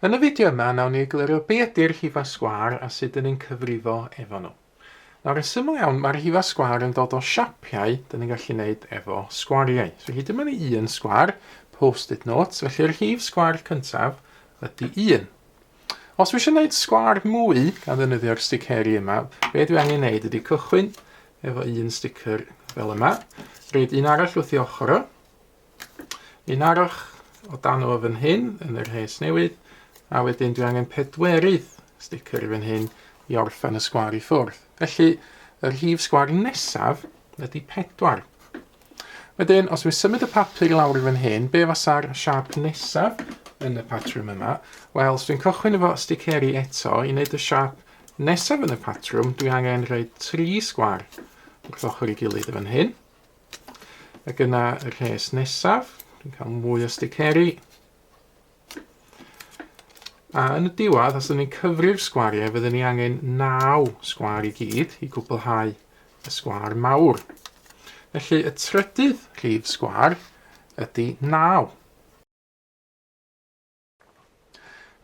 Yn y fideo yma, nawn ni eglurio be ydy'r rhifau sgwâr a sut dyn ni'n cyfrifo efo nhw. Nawr, yn syml iawn, mae'r rhifau sgwâr yn dod o siapiau dyn ni'n gallu gwneud efo sgwariau. So, rydym yn un sgwâr, post-it notes, felly'r rhif sgwâr cyntaf ydy 1. Os dwi eisiau gwneud sgwar mwy gan ddefnyddio'r sticeri yma, be dwi angen wneud ydy cychwyn efo un sticker fel yma, rhaid un arall wrth i ochr o, un arall o dan o fan hyn yn yr rhes newydd, a wedyn dwi angen pedwerydd sticker fan hyn i orffen y sgwar i ffwrdd. Felly, y rhif sgwar nesaf ydy pedwar. Wedyn, os dwi'n symud y papur i lawr i fan hyn, be fasa'r siap nesaf yn y patrwm yma? Wel, os dwi'n cychwyn efo sticeri eto, i wneud y siap nesaf yn y patrwm, dwi angen rhoi tri sgwar wrth ochr i gilydd y fan hyn. Ac yna y rhes nesaf, dwi'n cael mwy o sticeri, A yn y diwedd, os ydyn ni'n cyfri'r sgwariau, fydden ni angen 9 sgwar i gyd i gwblhau y sgwar mawr. Felly y trydydd rhif sgwar ydy 9.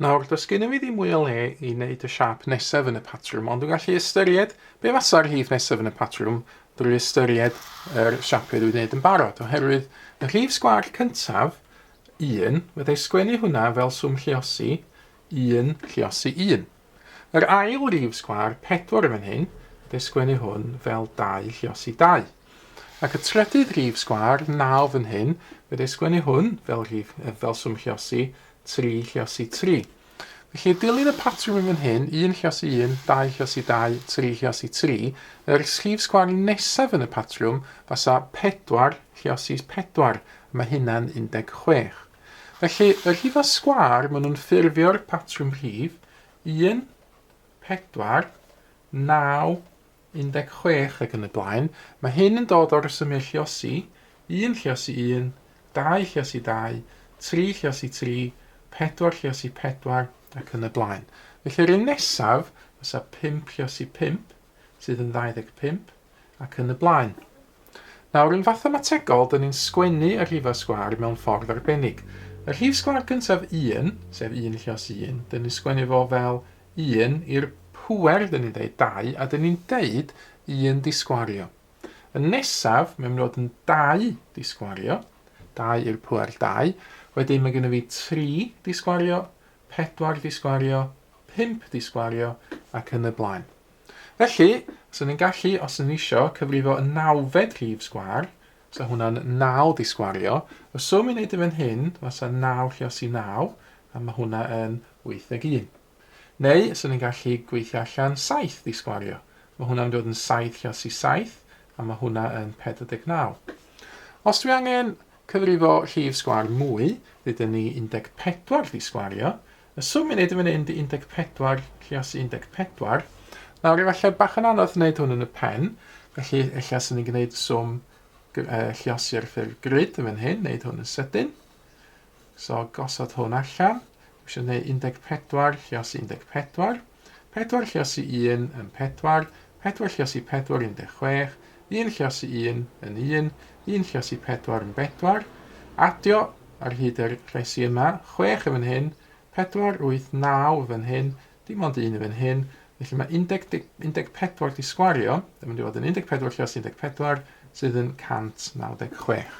Nawr, does gennym ni ddim mwy o le i wneud y siap nesaf yn y patrwm, ond dwi'n gallu ystyried be fasa'r rhif nesaf yn y patrwm drwy ystyried yr siapiau dwi'n wneud yn barod, oherwydd y rhif sgwar cyntaf Un, fydda i sgwennu hwnna fel swm lliosi, un, lliosi un. Yr ail rif sgwâr, pedwar yn fan hyn, fydda i sgwennu hwn fel dau lliosi dau. Ac y trydydd rif sgwâr, naw fan hyn, fydda i sgwennu hwn fel, rif, fel swm lliosi, tri lliosi tri. Felly, dilyn y patrwm yn fan hyn, un lluos i un, dau lluos i dau, tri lluos i tri. Yr rhif sgwâr nesaf yn y patrwm fasa pedwar lluos i pedwar, a mae hynna'n 16. Felly, y rhifau sgwâr maen nhw'n ffurfio'r patrwm rhif, un, pedwar, naw, 16 ac yn y blaen, mae hyn yn dod o resymiau Lliosi, un Lliosi un, dau Lliosi dau, tri Lliosi tri, pedwar Lliosi pedwar, ac yn y blaen. Felly yr un nesaf fysa pump Lliosi pump, sydd yn 25, ac yn y blaen. Nawr, yn fathemategol, dyn ni'n sgwennu y rhifau sgwâr mewn ffordd arbennig. Y rhif sgwâr gyntaf 1, sef un Lliosi un, dyn ni'n sgwennu fo fel Un i'r pŵer, dyn ni'n deud dau, a dyn ni'n deud un disgwario. Y nesaf, mae'n mynd i fod yn dau disgwario, dau i'r pŵer dau. Wedyn mae gennym fi tri disgwario, pedwar disgwario, pump disgwario ac yn y blaen. Felly, os ydyn ni'n gallu, os ydyn ni eisiau, cyfrifo y nawfed rhif sgwar, 'Sa hwnna'n naw di sgwario. Y swm i neud yn fan hyn fasa naw lluos i naw, a ma' hwnna yn wyth deg un. Neu, 'swn i'n gallu gweithio allan saith di sgwario. Ma' hwnna'n mynd i fod yn saith lluos i saith, a ma' hwnna yn pedwar deg naw. Os dwi angen cyfrifo llif sgwar mwy, ddeuda ni un deg pedwar di sgwario, Y swm i'n neud yn fan hyn di 14 lluos i 14. Nawr efallai bach yn anodd wneud hwn yn y pen, felly ella sy'n ni'n gwneud swm lluos i'r ffurf grid yn fan hyn, wneud hwn yn sydyn. So gosod hwn allan, eisiau gwneud 14 lluos i 14. Pedwar Llyasi Un yn pedwar, pedwar Llyasi Pedwar yn deg chwech, un Llyasi Un yn un, un Llyasi Pedwar yn bedwar. Adio ar hyd yr rhesi yma, chwech yn fan hyn, pedwar, wyth, naw yn fan hyn, dim ond un yn fan hyn, felly mae 10, 14 di sgwario, yn mynd i fod yn 14 Llyasi 14 sydd yn 196.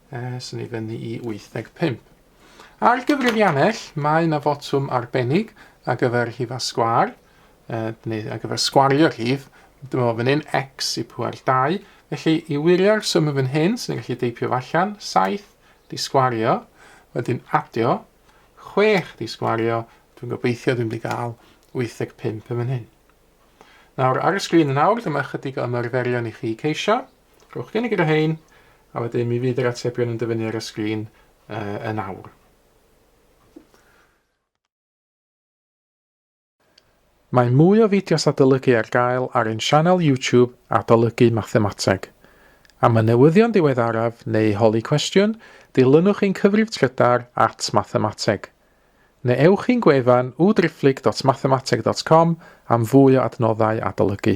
Aethon ni fyny i 85. Ar gyfrifiannell, mae yna fotwm arbennig ar gyfer rhifau sgwâr, neu ar gyfer sgwario'r rhif. Dyma fo fan hyn, x i pŵer 2. Felly, i wirio'r swm yn fan hyn, sy'n gallu deipio fo allan, 7 di sgwario, wedyn adio, 6 di sgwario, dwi'n gobeithio dwi'n mynd i gael 85 yn fan hyn. Nawr, ar y sgrin yn awr, dyma chydig o ymarferion i chi ceisio. Rhowch gynnig ar rhain, a wedyn mi fydd yr atebion yn dyfynnu ar y sgrin uh, yn awr. Mae mwy o fideos adolygu ar gael ar ein sianel YouTube Adolygu Mathemateg. Am y newyddion diweddaraf neu holi cwestiwn, dilynwch ein cyfrif trydar at Mathemateg. Neu ewch i'n gwefan www.driphlyg.mathemateg.com am fwy o adnoddau adolygu.